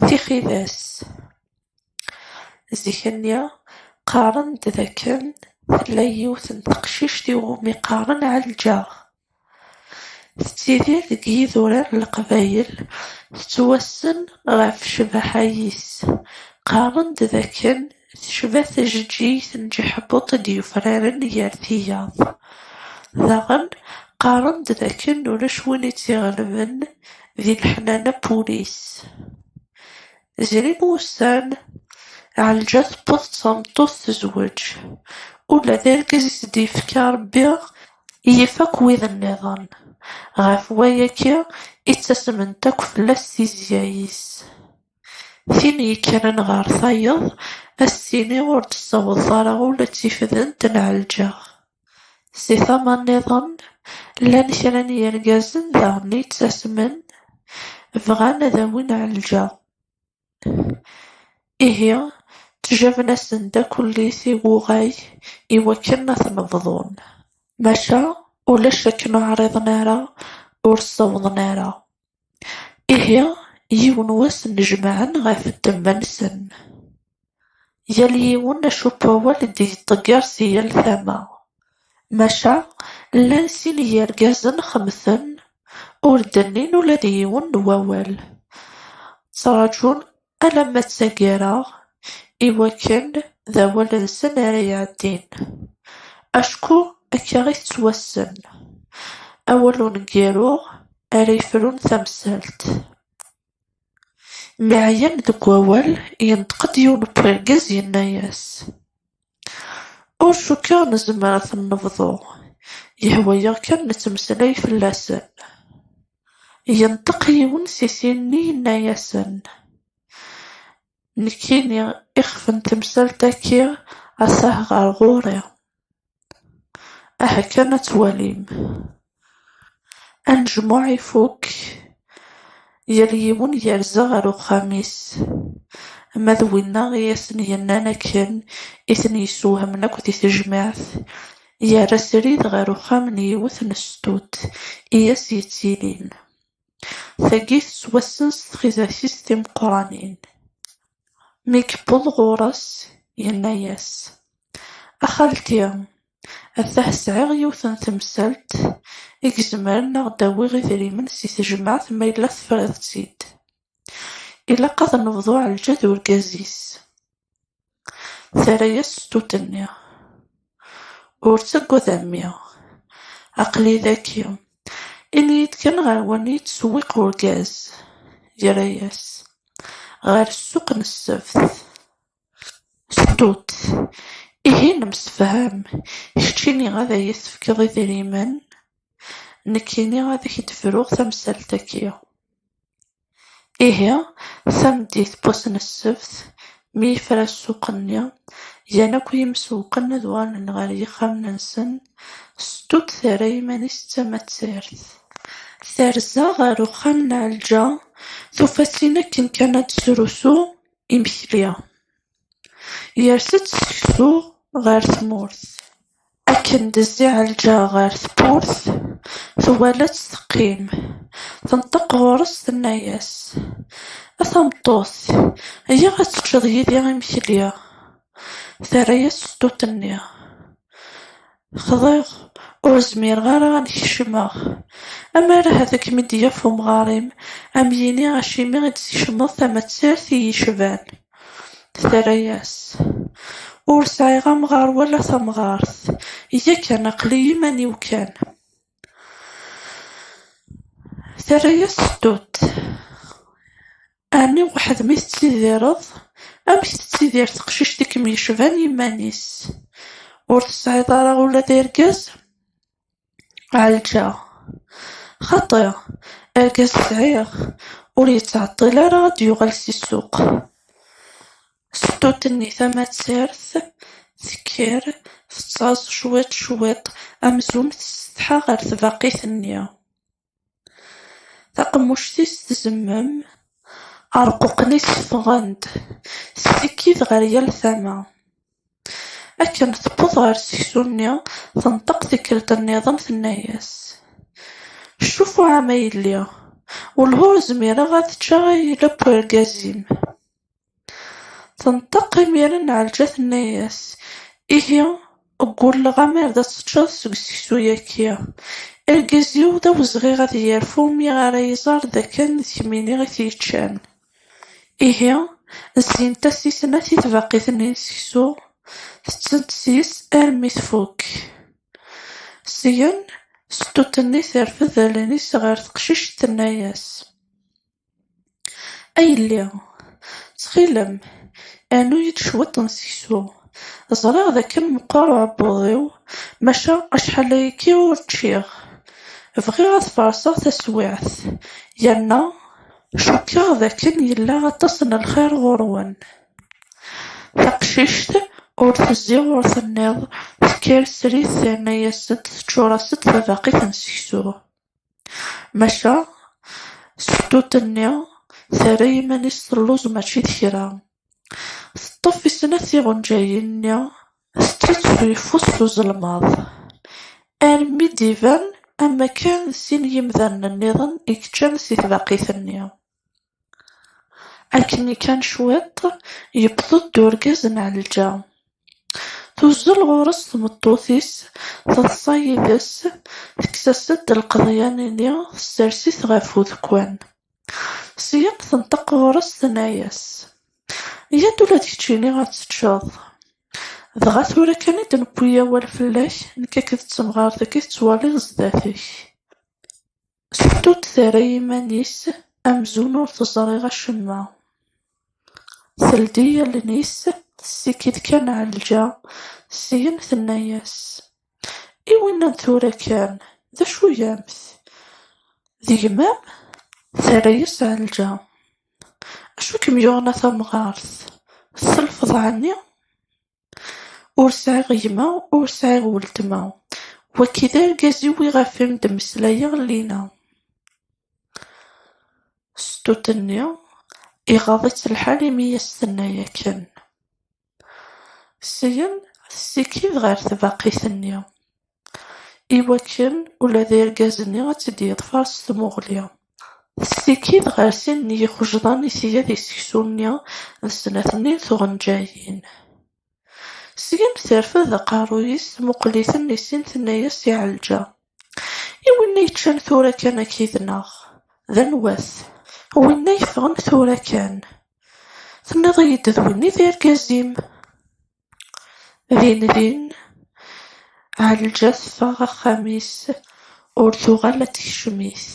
Tixidas, zik-nni qqaren-d d akken tella yiwet n teqcict i wumi qqaren Ɛelǧa, tettidir deg yidurar n leqbayel, tettwassen ɣef ccbaḥa-is, qqaren-d d akken Tecba tjeǧǧigt n Ǧeḥbuṭ i d-yufraren gar tiyaḍ. Daɣen, qqaren-d d akken ulac win i tt-iɣelben di leḥnana n wul-is. Zrin wussan, Ɛelǧa tewweḍ d tameṭṭut tezweǧ. Ula d argaz i s-d-yefka Rebbi yif akk wid nniḍen. Ɣef wayagi i ttasment akk fell-as tizya-is. Tin yekkren ɣer tayeḍ, ad s-tini ur d-tessawḍeḍ ara ula d tifdent n Ɛelǧax. Si tama nniḍen, llan kra n yirgazen daɣen yettasmen, bɣan ad awin Ɛelǧax. Ihi, ttjaben-asen-d akk ullis i wuɣay i wakken ad ten-bḍun. Maca, ulac akken ur ɛriḍen ara, ur ssawḍen ara. Ihi, yiwen wass nnejmaɛen ɣef ddemma-nsen, yal yiwen acu n wawal i d-iṭegger si yal tama, maca llan sin n yirgazen xemten ur d-nnin ula d yiwen n wawal, ttraǧun alamma ttaggareɣ i wakken d awal-nsen ara iɛeddin, acku akka i tettwassen, awal uneggaru ara yefrun tamsalt. Mi ɛyan deg wawal, yenṭeq-d yiwen n urgaz yenna-as. Ur cukkeɣ nezmer ad ten-nebḍu, yehwa-yaɣ kan nettmeslay fell-asen. Yenṭeq yiwen si sin-nni yenna-yasen, Nekkini ixef n temsalt-agi atah ɣer ɣur-i, aha kan ad twalim. Anejmuɛ ifukk, yal yiwen yerza ɣer uxxam-is. Ma d winna i asen-yennan akken i ten-yessewhamen akk di tejmaɛt, yerra srid ɣer uxxam n yiwet n sstut i as-yettilin. Tagi tettwassen s txidas-is timeqqranin. Mi yewweḍ ɣur-s, yenna-as, A xalti, atah sɛiɣ yiwet n temsalt i izemren ad aɣ-d-awiɣ idrimen si tejmaɛt ma yella tefriḍ-tt-id. Ilaq ad nebḍu Ɛelǧa d urgaz-is. Terra-yas sstut-nni, Ur ttagad a mmi, aql-i daki, ini-yi-d kan ɣer wanni yettṣewwiq urgaz? Yerra-yas, Ɣer ssuq n ssebt. Sstut, Ihi nemsefham, kečč ini ad iyi-tefkeḍ idrimen, nekkini ad ak-d-fruɣ tamsalt-agi. Ihi, tameddit n wass n ssebt, mi yefra ssuq-nni, gan akk yimsewwqen ad uɣalen ɣer yixxamen-nsen, Sedduq terra iman-is d tamattirt. Terza ɣer uxxam n Ɛelǧa, tufa-tt-in akken kan ad d-tesrusu imekli. Yers-d seksu ɣer tmurt, akken d-tezzi Ɛelǧa ɣer tewwurt, twala-tt teqqim, tenṭeq ɣur-s tenna-yas, A tameṭṭut, iyyaɣ ad teččeḍ yid-i imekli. Terra-yas ṣṣdut-nni. Xḍiɣ, ur zmireɣ ara ad kecmeɣ. Amer ahat ad kem-id-yaf umɣar-im, ad m-yini acimi i d-tkecmeḍ tamattirt i yecban. Terra-yas, Ur sɛiɣ amɣar wala tamɣart, yakan aql-i iman-iw kan. Terra-yas Tut, Ɛni weḥd-m i tettidireḍ? Amek tettidir teqcict i kem-yecban iman-is? Ur tesɛiḍ ara ula d argaz? Ɛelǧa, Xaṭi, argaz sɛiɣ, ur yettɛeṭṭil ara ad d-yuɣal si ssuq. Ṣṣut-nni tamazirt tekker tettaẓ cwiṭ cwiṭ amzun tessetḥa ɣer tbaqit-nni. Taqemmuct-is tzemmem, areqquqen-is ffɣen-d ssikid ɣer yal tama. Akken tewweḍ ɣer seksu-nni tenṭeq tikkelt nniḍen tenna-yas, Cufu a ma yelli, welhu zmireɣ ad ččeɣ ileb n urgaz-im. Tenṭeq imiren Ɛelǧa tenna-yas, Ihi, ggulleɣ amar d ad teččeḍ seg useksu-yaki. Argaz-iw d awezɣi ad yerfu mi ara iẓer d akken d kemmini i t-yeččan. Ihi, zzint-as i snat i tbaqit-nni n seksu, tettent seg-s armi tfukk. Syen, seṭṭuṭ-nni terfed allen-is ɣer teqcict tenna-yas. A yelli, ttxil-m, rnu-yi-d cwiṭ n seksu. Ẓriɣ d akken meqqer uɛebbuḍ-iw, maca acḥal ayagi ur ččiɣ. Bɣiɣ ad t-farṣeɣ taswiɛt, yerna cukkeɣ d akken yella aṭas n lxir ɣur-wen. Taqcict ur tezzi ur tenniḍ, tekker srid terna-yas-d, teččur-as-d tabaqit n seksu. Maca sufṭuṭ-nni terra iman-is telluẓ mačči d kra, teṭṭef i snat tiɣenǧayin-nni tetteţţu yeffus s uzelmaḍ, armi d-iban am wakken d sin n yimdanen-nniḍen i yeččan si tbaqit-nni. Akken kan cwiṭ, yewweḍ-d urgaz n Ɛelǧa. Tuzzel ɣur-s tmeṭṭut-is, teḍsa yid-s, tekkes-as-d lqeḍyan-nni, tessers-it ɣef udekkan. Syin tenṭeq ɣur-s, tenna-as, Yya-d ula d keččini ad teččeḍ. Dɣa tura kan i d-newwi awal fell-ak, nekk akked temɣart-agi tettwaliḍ zdat-k. Surtout terra iman-is amzun ur teẓri acemma, teldi allen-is tessikid kan Ɛelǧa, syen tenna-yas, I winna n tura kan, d acu gamt? D gma-m? Terra-yas Ɛelǧa, Acu i kem-yuɣen a tamɣart, tselfeḍ ɛni? Ur sɛiɣ gma, ur sɛiɣ weltma, wagi d argaz-iw iɣef i m-d-mmeslayeɣ llinna. Sṭut-nni iɣaḍ-itt lḥal imi i as-tenna akken. Syin, tessikid ɣer tbaqit-nni. i wakken ula d irgazen-nni ad tt-id-yeḍfer s tmuɣli, tettikkit ɣer sin n yixejḍan i tga deg seksu-nni d snat-nni n tɣenǧayin. Syin terfed aqerruy-is tmuqel-iten i sin tenna-yas i Ɛelǧa, I winna yeččan tura kan akka id-naɣ, d anwa-t? Winna yeffɣen tura kan, tenniḍ-iyi-d d winna i d irgaz-im? Din din, Ɛelǧa teffeɣ axxam-is, ur tuɣal ad tekcem-it.